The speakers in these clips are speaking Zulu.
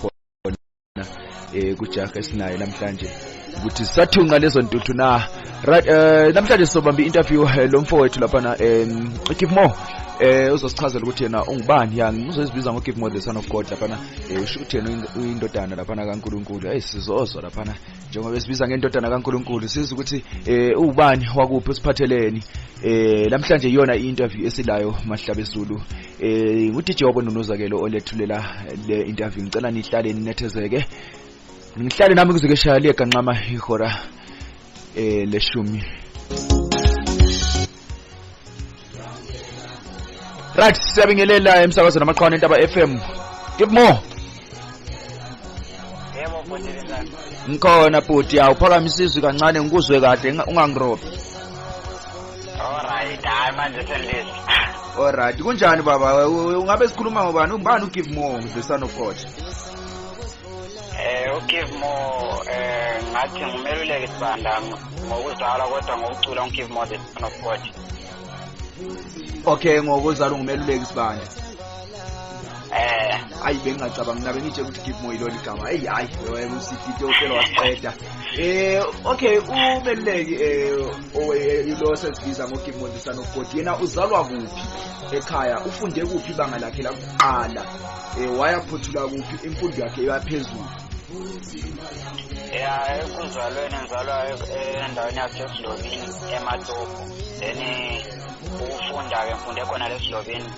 khona eh kujaha esinayo namhlanje ukuthi sathunqa lezo ntuthu na right eh namhlanje sobamba interview eh, lo mfowethu lapha na em eh, keep more eh uzosichazela ukuthi yena ungubani ya ngizozibiza ngo give more the son of god lapha na eh usho ukuthi yena uyindodana lapha na kaNkuluNkulu hey sizozwa lapha na njengoba esibiza ngendodana kaNkuluNkulu sizwe ukuthi eh ubani wakuphi usiphatheleni eh namhlanje iyona i-interview esilayo mahlabe Zulu eh ngudj wabononozakelo olethulela le interview ngicela nihlale ninethezeke ngihlale nami kuze keshaya liyeganqama ihora eh leshumi right siyabingelela emsakazweni amaqhawana entaba FM give more yebo bhuti linjani ngikhona bhuti yawu phakamise izwi kancane ngikuzwe kahle unga- ungangirobi alright hayi manje selilizwe alright kunjani baba U- u- ungabe sikhuluma ngobani ungubani ugive more ngidlisana uphothe ugive more um ngathi ngumeluleki sibanda ngokuzalwa kodwa ngokucula ungive more the son of god okay ngokuzalwa ngumeluleki sibanda eh ayi bengingacabangi nabe ngitshe ukuthi give more ilona igama eyi hayi wena usifike uhlelo wasiqeda eh okay umeluleki eh ilo sesibiza ngo give more the son of god yena uzalwa kuphi ekhaya ufunde kuphi ibanga lakhe lakuqala Eh wayaphothula kuphi imfundo yakhe yaphezulu? ya ekuzalweni ngizalwa endaweni yasesidlobini ematopo then ukufunda-ke ngifunde khona lesidlobini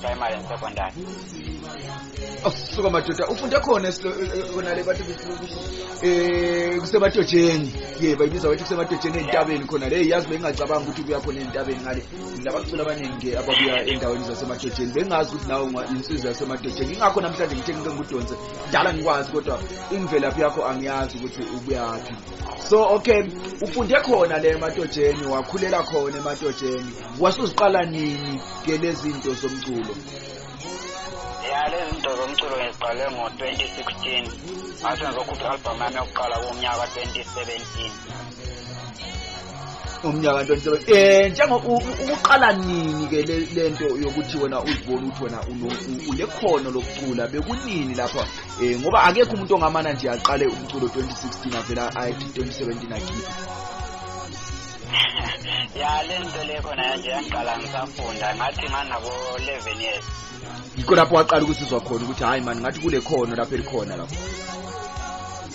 primary and secondary asuka oh, madoda ufunde khona khona le bathi eh kusematotsheni ye bayibiza ukuthi kusematotsheni entabeni khona le yazi bengingacabanga ukuthi kuya khona entabeni ngale labaculi abaningi ababuya endaweni zasemadodeni bengazi ukuthi nawe insizwa yasemadodeni ingakho namhlanje ngithe ngike ngudonse dala ngikwazi kodwa imvelaphi yakho angiyazi ukuthi ubuyaphi so okay ufunde khona le emadodeni wakhulela khona emadodeni wasuziqala nini ke lezi zinto zomculo ya lezi zinto zomculo ngiziqale ngo-2016 ngase ngizokhupha i-albhamu yami yokuqala kumnyaka ka-2017 umnyaka 27 eh njengo ukuqala nini ke lento yokuthi wena uzibona ukuthi wena unekhono lokucula bekunini lapha eh ngoba akekho umuntu ongamana nje aqale umculo 2016 avela ayithi 2017 akhiphe ya lento le khona nje yangiqala ngisafunda ngathi nganabo 11 years yikho lapho waqala ukusizwa khona ukuthi hhayi mani ngathi kule khono lapho elikhona lapho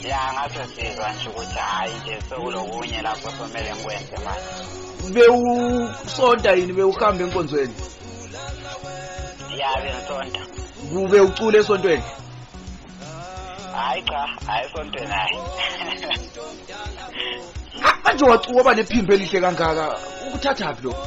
ya ngathi sizwa nje ukuthi hhayi nje sekulokunye lapho somele ngikwenze manje bewusonta yini bewuhamba enkonzweni ya bengisonta kube ucula esontweni hayi cha hayi esontweni hayi manje wacuwa ba nephimbo elihle kangaka ukuthathaphi lokho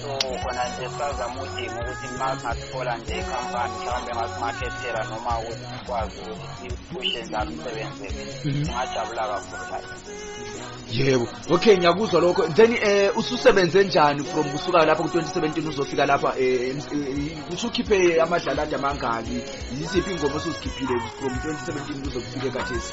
so khona nje sazama udinga ukuthi ma singathola nje ikhampani mhlawumbe ngasimakhethela noma ukuthi sikwazi ukuthi siphushe njalo umsebenzi mhm. singajabula kakhulu layo yebo okay ngiyakuzwa lokho then eh ususebenze njani from kusuka lapha ku-2017 uzofika lapha eh, eh usukhiphe amadlalada amangaki yiziphi ingoma osuzikhiphile from 2017 kuzokufike kathesi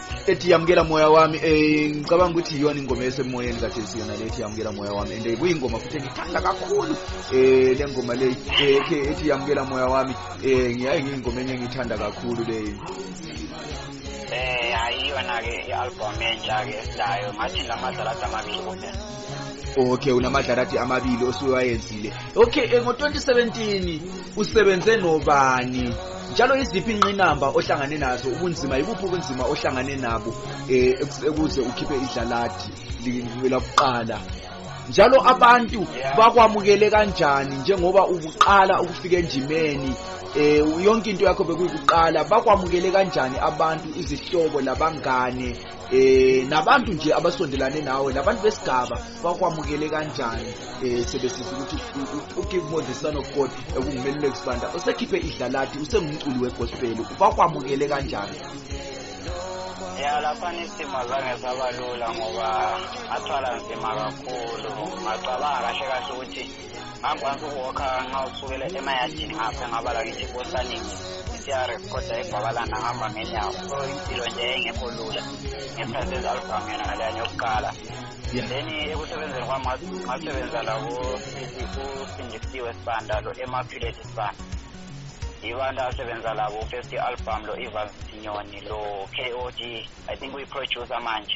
ethi yamukela moya wami um ngicabanga ukuthi yiyona ingoma esemoyeni kade siyona le ethi yamukela moya wami and eh, kuyingoma futhi engithanda kakhulu um le ngoma le ethi yamukela moya wami um ngiyaye ngiyingoma enye engiyithanda kakhulu leyo um ayiyona-ke i-albhom entsha-ke esilayo ngathi la madlala adamabili kuphela okay unamadlarathi amabili osuwayenzile okay eh, ngo-2017 usebenze nobani njalo iziphi inqinamba ohlangane nazo ubunzima yibuphi ubunzima ohlangane nabo um ukuze ukhiphe idlalathi lakuqala njalo abantu bakwamukele kanjani njengoba ubuqala ukufika enjimeni eh yonke into yakho bekuyiqala bakwamukele kanjani abantu izihlobo labangane eh nabantu nje abasondelane nawe labantu besigaba bakwamukele kanjani eh sebesiza ukuthi uGive More the Son of God ekungumelule kusibanda usekhiphe idlalati usengumculi wegospel bakwamukele kanjani ya lapha isimo zange saba lula ngoba ngathwala nzima kakhulu ngacabanga kahle kahle ukuthi ngangikwazi ukuwokha nxa usukele emayadini ngapha ngabala ngithi kosanini i-crf kodwa egwabalana ngihamba ngenyawo so impilo nje engekho lula ngesikhathi ezi-album yona naleyani yokuqala then ekusebenzeni kwami ngasebenza labo usindisiwe sibanda lo emaphileti sibanda yibantu asebenza labo first i-album lo ivansinyoni lo k o d i think uyi-producer manje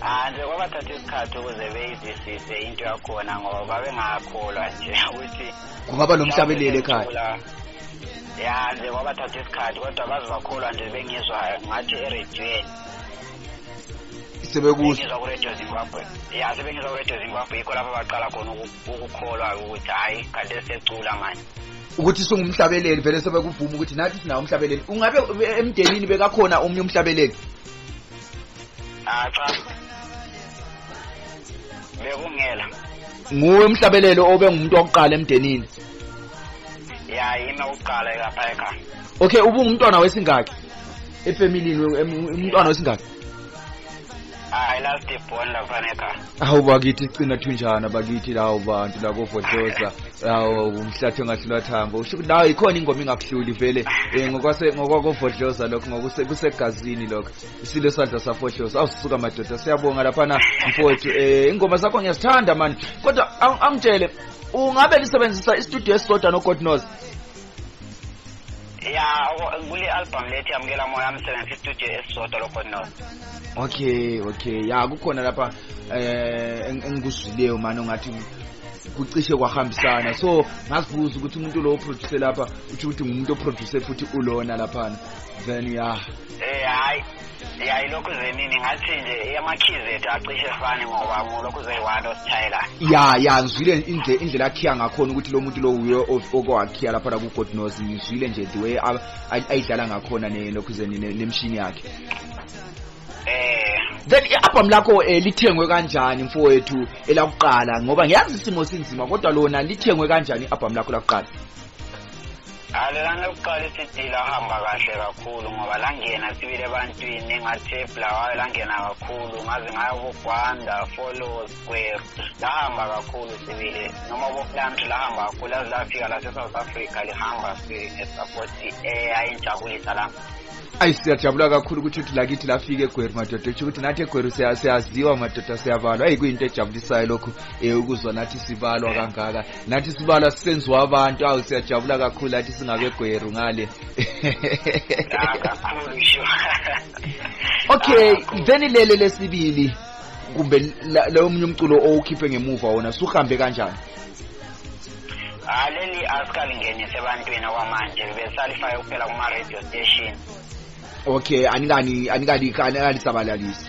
Anti kwaba thatha isikhathi ukuze beyizisise into yakhona ngoba babengakholwa nje ukuthi kungaba nomhlabeleli ekhaya ya nje kwaba thatha isikhathi kodwa baze bakholwa nje bengizwa ngathi erediyweni sebekuzwa kuredio zimbabwe ya sebengizwa kuredio zimbabwe yikho lapho baqala khona ukukholwa ukuthi hhayi kade secula manje ukuthi singumhlabeleli vele sebekuvuma ukuthi nathi sinawo umhlabeleli ungabe emndenini bekakhona omunye umhlabeleli Ah cha. Bekungela. Nguwe umhlabelelo obe ngumuntu wokuqala emndenini. Ya yimi oqala lapha ekhaya. Okay ubungumntwana wesingaki? Efamilini umntwana wesingaki? Hayi last born lapha ekhaya. Hawu bakithi cina thunjana bakithi lawo bantu lako Vodoza lawo umhlathi ongahlula thambo usho ukuthi nawo ikhona ingoma ingakuhluli vele eh, ngokwase ngokwako Vodoza lokho ngokuse kusegazini lokho isilo sadla safohloza awusuka madoda siyabonga lapha na mfowethu eh ingoma zakho ngiyazithanda manje kodwa ang- angitshele ungabe lisebenzisa istudio esisodwa no God knows ya kule album lethi yamukela moya msebenzi istudio esisodwa lokho no okay okay ya kukhona lapha eh engikuzwileyo manje ngathi kucishe kwahambisana so ngazibuza ukuthi umuntu lo oproducer lapha uthi ukuthi ngumuntu oproducer futhi ulona lapha then ya eh hayi ya ilokhu zenini ngathi nje eyamakhizi ethu acishe efani ngoba mulokhu zeyi-one osithayelayo ya ya ngizwile indle- indlela akhiya ngakhona ukuthi lo muntu lo wuye o- okowakhiya laphana ku-god nos ngizwile nje the way a- a- ayidlala ngakhona ne- lokhu zeni ne- nemshini yakhe um then i-albhamu lakho um lithengwe kanjani mfowethu elakuqala ngoba ngiyazi isimo sinzima kodwa lona lithengwe kanjani i-albhamu lakho lakuqala Alelana lokuqala isidila hamba kahle kakhulu ngoba langena sibile ebantwini ngathi ebulawayo langena kakhulu ngaze ngayo kugwanda follow square lahamba kakhulu sibile noma bokulamthi lahamba kakhulu aze lafika lase-south africa lihamba ngesapoti eyayinjabulisa la ayi siyajabula kakhulu ukuthi uthi lakithi lafika egweru madoda etsho ukuthi nathi egweru siyaziwa madoda siyabalwa ayi kuyinto ejabulisayo lokhu um ukuzwa nathi sibalwa kangaka nathi sibala senziwa abantu awu siyajabula kakhulu athi singabegweru ngale okay then lele lesibili kumbe leyo munye umculo owukhiphe ngemuva wona suhambe kanjani aleli asikalingeni sebantwini okwamanje besalifake kuphela kuma-radio station okay anikani anikani anikani sabalalisi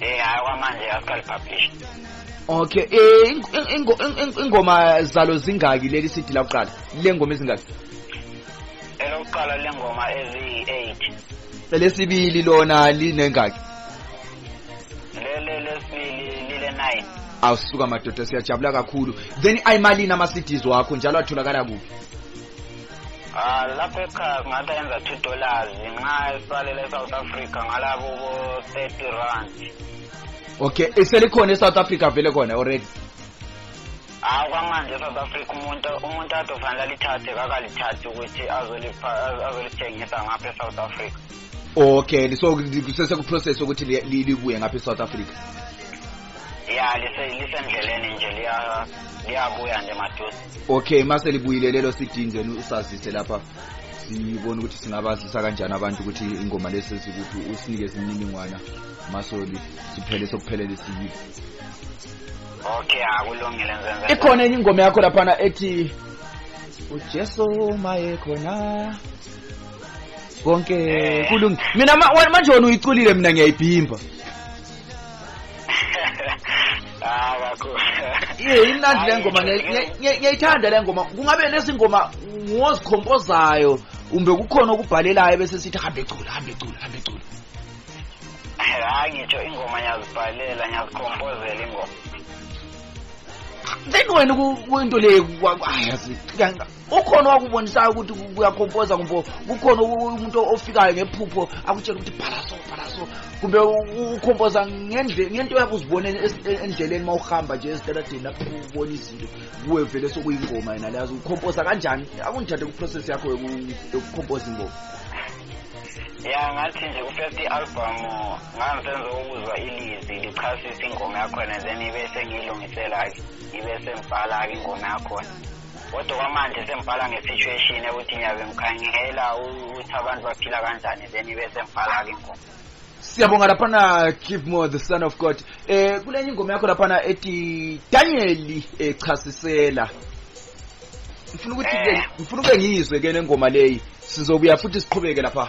eh hayi kwamanje akaqali publish okay eh ingoma zalo zingaki leli CD la kuqala le ngoma izingaki elokuqala le ngoma ezi 8 lesibili lona linengaki lele lesibili lile 9 awusuka madoda siyajabula kakhulu then ayimalini ama CDs wakho njalo atholakala kuphi Ah, lapha ekhaya ngathi ayenza two dollars nxa esalela e-south africa ngalabo bo-thirty rand okay iselikhona e-south africa vele khona already hayi kwamanje e-south africa umuntu umuntu ade ofanele alithathe kakalithathi ukuthi azolithengisa ngapha e-south africa okay so kusesekuprocess ukuthi libuye ngapha e-south africa ya lisendleleni nje liyabuya nje maduze okay mase libuyile lelo sidini then usazise lapha sibone ukuthi singabazisa kanjani abantu ukuthi ingoma lesi sikuphi usinikeze imininingwana masoli siphele sokuphelele siyile okay akulungile nzenze ikhona enye ingoma yakho laphana ethi ujesu maye khona konke eh. kulungi mina manje wona uyiculile mina ngiyayibhimba Ah kakhulu. Iye imnandi le ngoma ngiyayithanda le ngoma. Kungabe lezi ngoma ngozikhompozayo umbe kukhona okubhalelayo bese sithi hambe cula hambe cula hambe cula. Hayi ngitsho ingoma ngiyazibhalela ngiyazikhompozela ingoma. Then wena kwento le kwayazi ukhona owakubonisayo ukuthi kuyakhompoza kumbe kukhona umuntu ofikayo ngephupho akutshela ukuthi phalaso phalaso kumbe ukhompoza ngento yakho uzibonele endleleni uma uhamba nje ezitaladeni lapho ubona izinto kuwe vele sokuyingoma yena leyazi ukhompoza kanjani akungithathe kuprocess yakho yokukhompoza ingoma ya ngathi nje ku-first album ngangisenza ukuzwa ilizwi lichasisa ingoma yakhona then ibe sengiyilungisela-ke ibe sengibhala-ke ingoma yakhona kodwa kwamanje sengibhala nge-situation ukuthi ngiyabe ngikhangela ukuthi abantu baphila kanjani then ibe sengibhala-ke ingoma siyabonga laphana keep more the son of god eh kulenye ingoma yakho laphana ethi danyeli echasisela ngifuna ukuthi eh. ngifuna ube ngizwe ke nengoma leyi sizobuya futhi siqhubeke lapha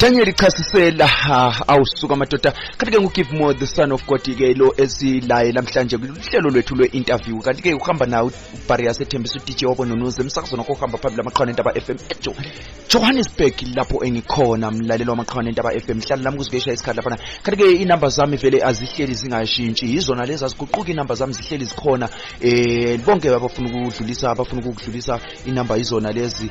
Daniel ichasisela awusuka madoda kanti ke ngugive more the son of God ke lo esilaye namhlanje kuhlelo lwethu lwe-interview kanti ke uhamba nawo ubhari yasethembisa udj wabo nonuze emsakazweni wakho uhamba phambili amaqhawana entaba fm ejo johannesburg lapho engikhona mlalelo wamaqhawana entaba fm hlala lami kuzikesha isikhathi laphana kanti ke inamba zami vele azihleli zingashintshi yizona lezi aziguquki inamba zami zihleli zikhona um bonke abafuna ukudlulisa abafuna ukukudlulisa inamba yizona lezi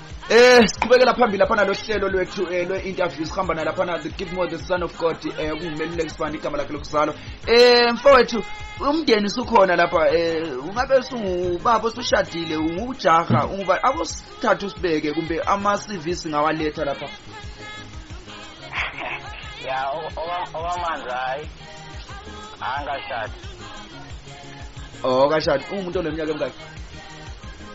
Eh siqhubekela phambili lapha nalohlelo lwethu eh, lwe interview sihamba nalapha na the Gilmore the son of God eh kungimeluleki sibani igama lakhe lokuzalwa eh mfowethu umndeni usukhona lapha eh ungabe usubaba usushadile ungujaha unguba akusithathu sibeke kumbe ama CV singawaletha lapha ya owamanje hayi angashadi oh kashadi ungumuntu oneminyaka emingaki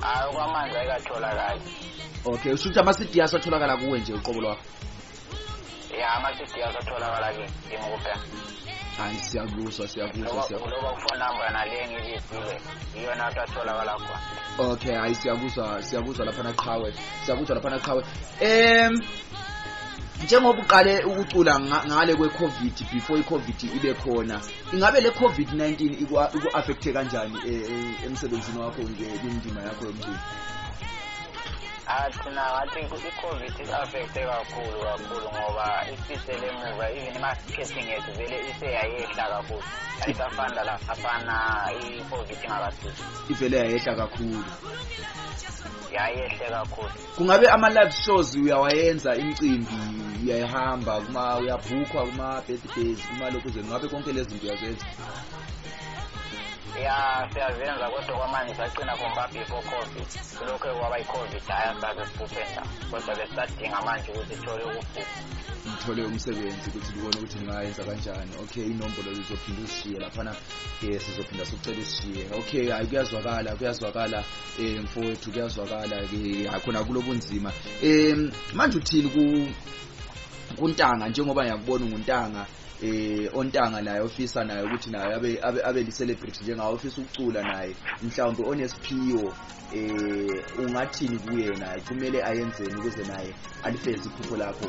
hayi okwamanje ayikatholakali okay usho ukuthi ama-cd asatholakala kuwe nje uqobo lwakho ya ama-cd asatholakala kimi kuphela hayi siyakuzwa siyakuzwa siyakuzwa phone number nale ngiyizile iyona athatholakala khona okay hayi siyakuzwa siyakuzwa lapha naqhawe siyakuzwa lapha naqhawe em njengoba uqale ukucula ngale kwe-covid before i-covid ibe khona ingabe le covid-19 iku-affecthe kanjani e, e, emsebenzini wakho nje kwindima yakho yomculo athina ngathi i-covid i-affecthe kakhulu kakhulu ngoba isisele emuva even i-marketing yethu vele iseyayehla kakhulu ayisafani lalafana i-covid ingakafiki ivele yayehla kakhulu yayehle kakhulu kungabe ama live shows uyawayenza imicimbi uyayihamba kuma uyabhukhwa kuma birthdays kuma lokhu nje ngabe konke lezi zinto uyazenza ya siyazenza kodwa kwamanje saqina khomba before covid lokho kwaba i-covid hhayi asaze siphuphenza kodwa besisadinga manje ukuthi sithole ukuphupha ngithole umsebenzi ukuthi kubone ukuthi ngingayenza kanjani okay inombolo zizophinde uzishiye laphana um sizophinda sikucela usishiye okay hhayi kuyazwakala kuyazwakala eh mfowethu kuyazwakala ke akhona kulobunzima eh manje uthini ku kuntanga njengoba ngiyakubona nguntanga eh ontanga naye ofisa naye ukuthi naye abe abe, abe li celebrity njengawo ofisa ukucula naye mhlawumbe onesiphiwo eh ungathini kuyena kumele ayenzeni ukuze naye alifeze iphupho lakho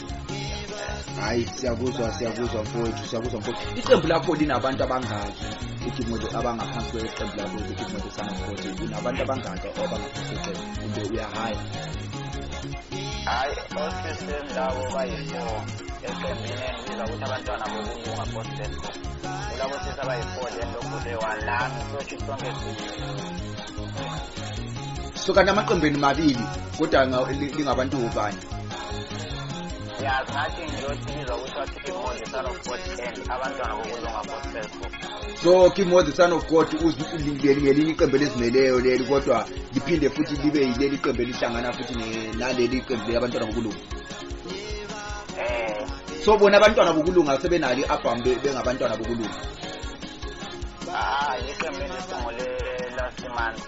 hayi siyakuzwa siyakuzwa mfowethu siyakuzwa mfowethu iqembu lakho linabantu abangaki igimoto abangaphansi kweqembu lakho igimoto samafoti unabantu abangaki abangaphansi kweqembu kumbe uyahaya hayi osisini labo bayi-four eqembini engibiza ukuthi abantwana bokulunga bosden kulabo sisi abayi-four then lokuleyi-one lami sotsho sonke so kanti amaqembeni mabili kodwa lingabantu ubani ya ngathi ngiyothi bizwa kuthiwa kimo the son of god and abantwana bokulunga gospel so kimo the son of god ngelinye iqembu elizimeleyo leli kodwa liphinde futhi libe yileli qembu elihlangana futhi naleli qembu leli abantwana bokulunga eh. so bona abantwana bokulunga sebenalo i-album bengabantwana bokulunga ah iqembu elisungule last month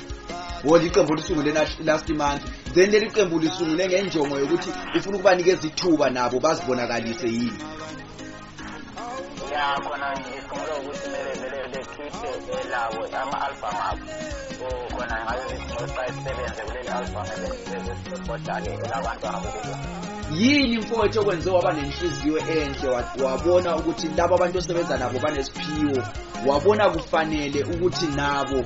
wona iqembu lisungule last month then leli qembu lisungule ngenjongo yokuthi ufuna ukubanikeza ithuba nabo bazibonakalise yini ya khona ngisungule ukuthi kumele vele bekhiphe elabo ama-album abo so khona ngabe ngiqoqa isisebenze kuleli album ebesibhodale elabantu abo kubo yini mfowethu okwenze waba nenhliziyo enhle wabona ukuthi laba abantu osebenza nabo banesiphiwo wabona kufanele ukuthi nabo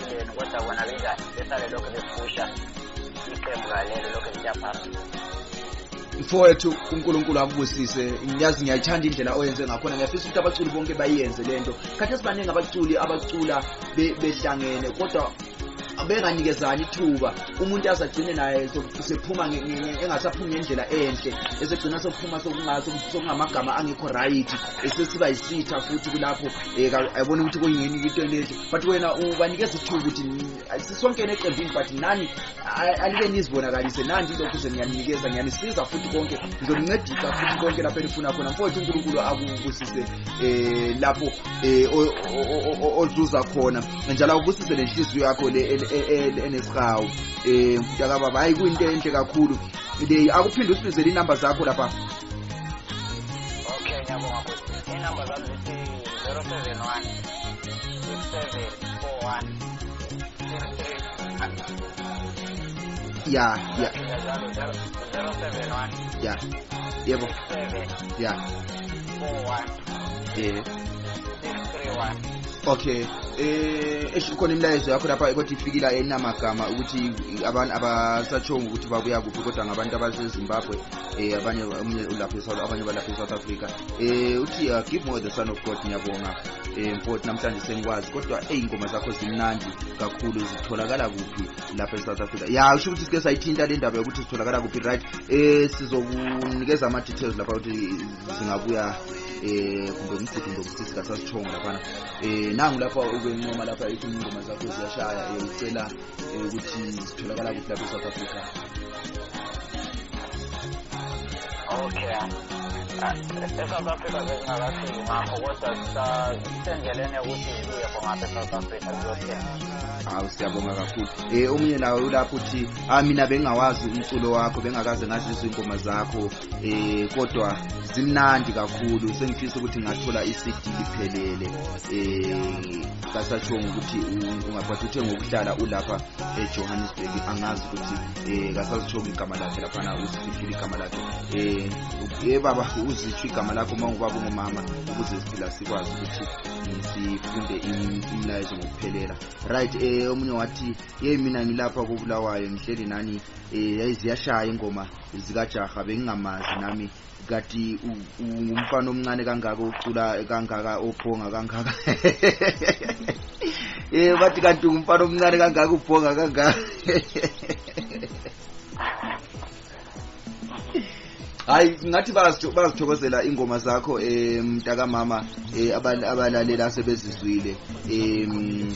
yenu kodwa bona benjani besale lokhu bephusha iqembu kalelo lokhu liya phambili mfowethu unkulunkulu akubusise ngiyazi ngiyayithanda indlela oyenze ngakhona ngiyafisa ukuthi abaculi bonke bayiyenze le nto khathi esibaningi abaculi abacula behlangene kodwa benganikezani ithuba umuntu azagcine naye sephuma engasaphumi ngendlela enhle esegcina sokuphuma sokungamagama angekho rayithi esesiba yisitha futhi kulapho um eh, abone ukuthi kuyini into enenhle but wena ubanikeza ithuba ukuthi sisonke neqembini but nani alike nizibonakalise nandi lokhu ze niyaninikeza niyanisiza futhi konke ngizonincedisa futhi konke lapho enifuna khona mfowethu unkulunkulu akubusise um lapho um ozuza khona njalo akubusise le nhliziyo yakho le e, e, e, enesihawu um mfutakababa hhayi kuyinto enhle kakhulu leyi akuphinde usibizele iy'namba zakho lapha okay ngiyabonga inamba zami zithi zero seven one ya ya ya yebo ya eh okay eh esho khona imilayezo yakho lapha kodwa ifikila enamagama ukuthi abantu abasatshonga ukuthi babuya kuphi kodwa ngabantu abasezimbabwe eh abanye omunye ulapha esouth abanye balapha esouth africa eh uthi uh, give more the son of god ngiyabonga um mfoti namhlanje sengikwazi kodwa ey'ngoma zakho zimnandi kakhulu zitholakala kuphi lapha e-south africa ya usho ukuthi sike sayithinta le ndaba yokuthi zitholakala kuphi right um sizokunikeza ama-details lapha ukuthi zingabuya eh kumbe umgidi kumbe umsisi kasasithongo laphana eh nangu lapha ubencoma lapha ethi ingoma zakho ziyashaya eh, ucela eh, ukuthi zitholakala kuphi lapha e-south africa okay e-south africa bezingakafiki ngakho kodwa sisendleleni yokuthi zibuye khongapha e-south africa ziyothenga hawu siyabonga kakhulu um omunye nawe ulapho uthi ah mina bengingawazi umculo wakho bengakaze ngazizwa iy'ngoma zakho um kodwa zimnandi kakhulu sengifisa ukuthi ngathola i-cd liphelele um kasashongo ukuthi ungaphathi uthe ngokuhlala ulapha ejohannesburg angazi ukuthi um kasazishongo igama lakhe laphana uzifihlile igama lakhe um e baba uzisho igama lakho uma ngubaba ungumama ukuze siphila sikwazi ukuthi sifunde imilayezo ngokuphelela right um omunye wathi yeyi mina ngilapha kobulawayo ngihleli nani um yayiziyashaya ingoma zikajaha bengingamazi nami kati ungumfana omncane kangaka ucula kangaka ophonga kangaka eh bathi kanti ungumfana omncane kangaka uphonga kangaka hayi ngathi bazithokozela ingoma zakho um mntakamama um abalaleli asebezizwile um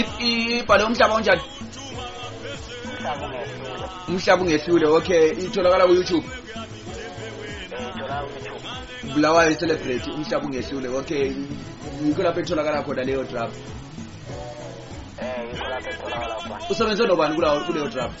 ibhale umhlaba onjani umhlaba ungehlule okay itholakala ku-youtube bulawayo celebrate umhlaba ungehlule okay yikho lapho etholakala khona leyo draft eh, usebenze nobani kuleyo draft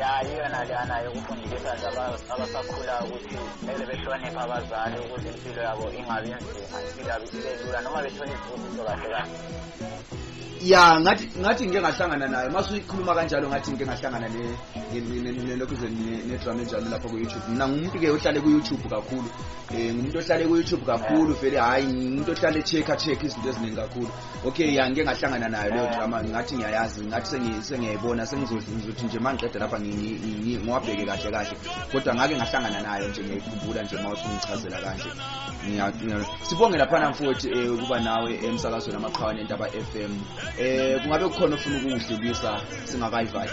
ya iyona leyana yokufundisa nje abasakhula ukuthi kumele behloniphe abazali ukuze impilo yabo ingabi nzima impilo yabo ibe lula noma bethole izibusiso kahle kahle ya ngathi ngathi ngike ngahlangana nayo mase uyikhuluma kanjalo ngathi ngike ngahlangana nelokhu nedrama enjalo lapho ku-youtube mina ngumuntu-ke ohlale ku-youtube kakhulu um ngumuntu ohlale ku-youtube kakhulu vele hhayi ngumuntu ohlale check-a check izinto eziningi kakhulu okay ya ngike ngahlangana nayo leyo drama ngathi ngiyayazi ngathi sengiyayibona sengizothi nje uma ngiqeda lapha ngiwabheke kahle kahle kodwa ngake ngahlangana nayo nje ngiyayikhumbula nje uma usungichazela kanje sibonge laphana mfowethu um eh, ukuba nawe emsakazweni amaqhawa nentaba f m um eh, kungabe kukhona ofuna ukuwudlulisa singakayivali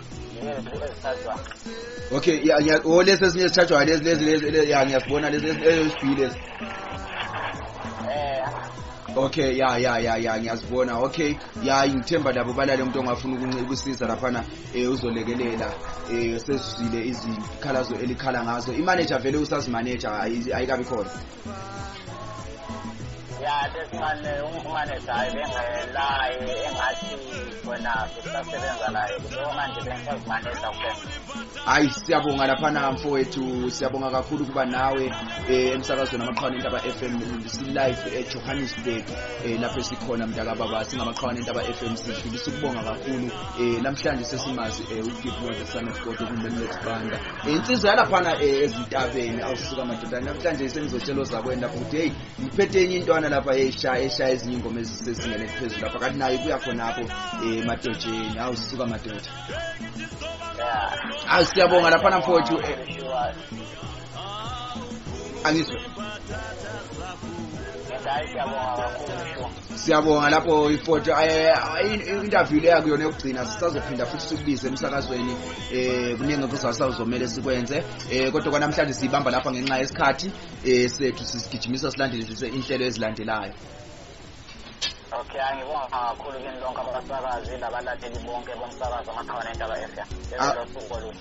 okay o lesi esinye esithathwayo lezi lezi lezi ya ngiyasibona lesi esibili lesi okay ya ya ya ya ngiyazibona okay ya ngithemba labo balale umuntu ongafuna ukusiza laphana eh uzolekelela eh sesizile izikhalazo elikhala ngazo imanager vele usazimaneja ayikabi khona ya lesimane umfumanisa hayi bengelaye engathi wena sisasebenza naye kuleyo manje bengisazimanisa kuphela hayi siyabonga laphana mfowethu siyabonga kakhulu ukuba nawe eh, emsakazweni amaqhawane entaba f m silive ejohannesburg eh, lapho esikhona mntakababa singamaqhawane entaba f m sidlulisa ukubonga kakhulu um namhlanje sesimazi um ugive the son of god okundeletbanda Insizwa yalaphana eh, ezintabeni awusuka madoda namhlanje sengizotshela ozakwenda futhi hey ngiphethe enye intwana lapha esha esha ezinye ingoma ezisezingene eziphezulu lapha kanti nayo kuya khonapho eh madojeni awusuka madoda Awu siyabonga laphana mfowethu eh. Angizwe. Ngiyabonga kakhulu. siyabonga lapho ifoto eh, interview leya kuyona yokugcina sisazophinda futhi sikubize emsakazweni eh kuningi kusasazomela sikwenze eh kodwa kwanamhlanje sibamba lapha ngenxa yesikhathi eh sethu sisigijimisa silandele inhlelo ezilandelayo Okay, angibonga kakhulu kini lonke abasakazi labalaleli bonke bomsakazo amakhona endaba FM. Lelo suku oluhle.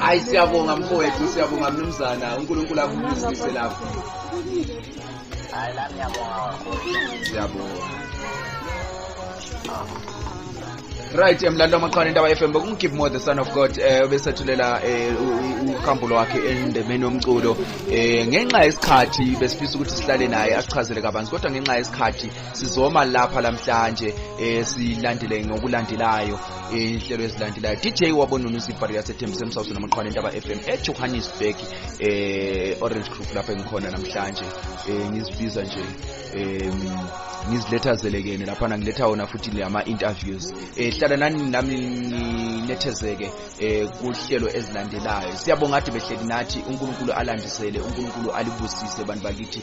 hayi siyabonga mfowethu siyabonga mnumzana unkulunkulu akubusise lapho hayi la ngiyabonga siyabonga right emlando amaqhwana indaba FM bekungigive more the son of God eh obesethulela eh, uhambo lwakhe endemeni yomculo eh ngenxa yesikhathi besifisa ukuthi sihlale naye asichazele kabanzi kodwa ngenxa yesikhathi sizoma lapha lamhlanje eh silandele ngokulandelayo inhlelo ezilandelayo dj wabonona usibhari yasethembisa emsawuso namaqhwana entaba fm ejohannesburg eh orange group lapho engikhona namhlanje eh ngizibiza nje em ngiziletha zelekene lapha ngiletha wona futhi lama interviews eh hlala nani nami nginethezeke eh kuhlelo ezilandelayo siyabonga ade behleli nathi uNkulunkulu alandisele uNkulunkulu alibusise bantu bakithi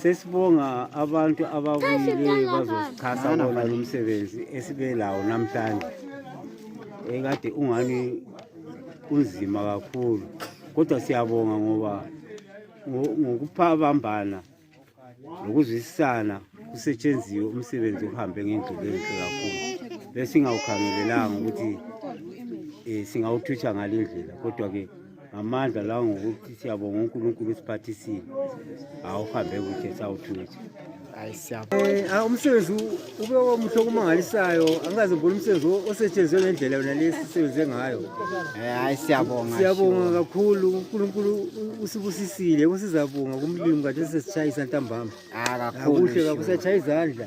Sesibonga abantu ababuyile bazosixhasa bona lo msebenzi esibe lawo namhlanje ekade ungani unzima kakhulu kodwa siyabonga ngoba ngokuphabambana nokuzwisisana kusetshenziwe umsebenzi uhambe ngendlela enhle kakhulu besingawukhangelelanga ukuthi um singawuthutha ngale ndlela kodwa-ke ngamandla lawo ngokuthi siyabonga unkulunkulu usiphathisile awuhambe kuhle sawuthutha eh, umsebenzi ube omuhle okumangalisayo angikaze ngibona umsebenzi osetshenziswe ngendlela yona le sisebenze ngayo eh, hayi siyabonga siyabonga kakhulu unkulunkulu usibusisile kusizabonga kumlimi kade sesishayisa ntambama ah, akuhle kakhulu siyashaya izandla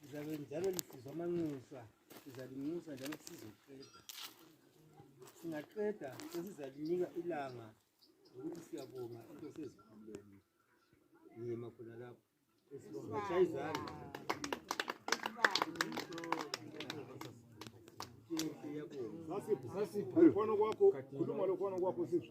Lizabe njalo lisizwa amanxusa, sizalinxusa njalo sizoqeda. Singaqeda sesizalinika ilanga ukuthi siyabonga into sezikhuleni. Ngiyema khona lapho. Esibonga shayizana. Sasiphi? Sasiphi? Khona kwakho, khuluma lo khona kwakho siphi?